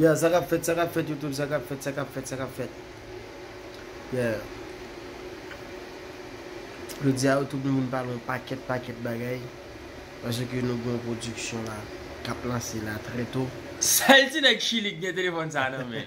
Yeah sa kap fèt sa kap fèt YouTube sa kap fèt sa kap fèt sa kap fèt Yeah Jodi a YouTube nou vin pale yon pakèt pakèt bagay Pase ke nou gen yon pwodiksyon la kap lanse la trè to. Sèl ti nèg chili ki gen telefòn sa nan men.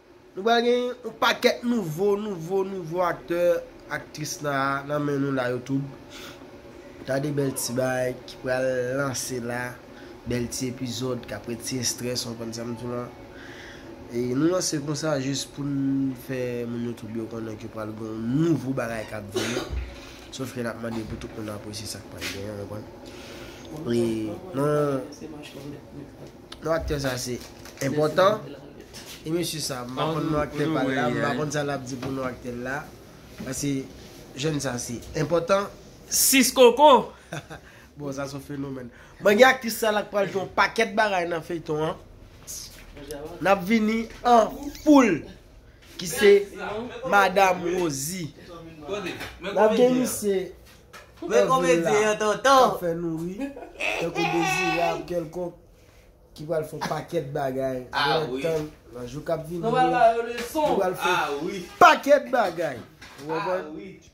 Nou pral gen yon pakèt nouvo nouvo nouvo aktè aktris la nan men nou la youtube gade bèl ti baay ki pral lanse la bèl ti epizòd kap retire strès ou konprann sam diw lan e nou lanse konsa jis poun fè moun youtube yo konnen ke pral gen yon nouvo bagay kap vini sof ke nap mande pou tout moun apresye sak pral genyen ou konprann e nan. Non aktè sa se enpòtan e mesye sa m pa konn non aktè pa l la m pa konn sa l ap di pou non aktè l la pase jèn sa se enpòtan. 6 koko. Bon sa son fenomèn. Mwen gen aktris sa la k pral jwe yon pakèt bagay nan feyton an. N ap vini an foul ki se madam Rosie. N ap gen misye. Mwen komedyen yon tonton. Kap fè nou ri. Tankou Dezirab kèlkonk ki pral fè yon pakèt bagay nan tan nan jou kap vini yo. Yo pral fè yon pakèt bagay. Ou konprann?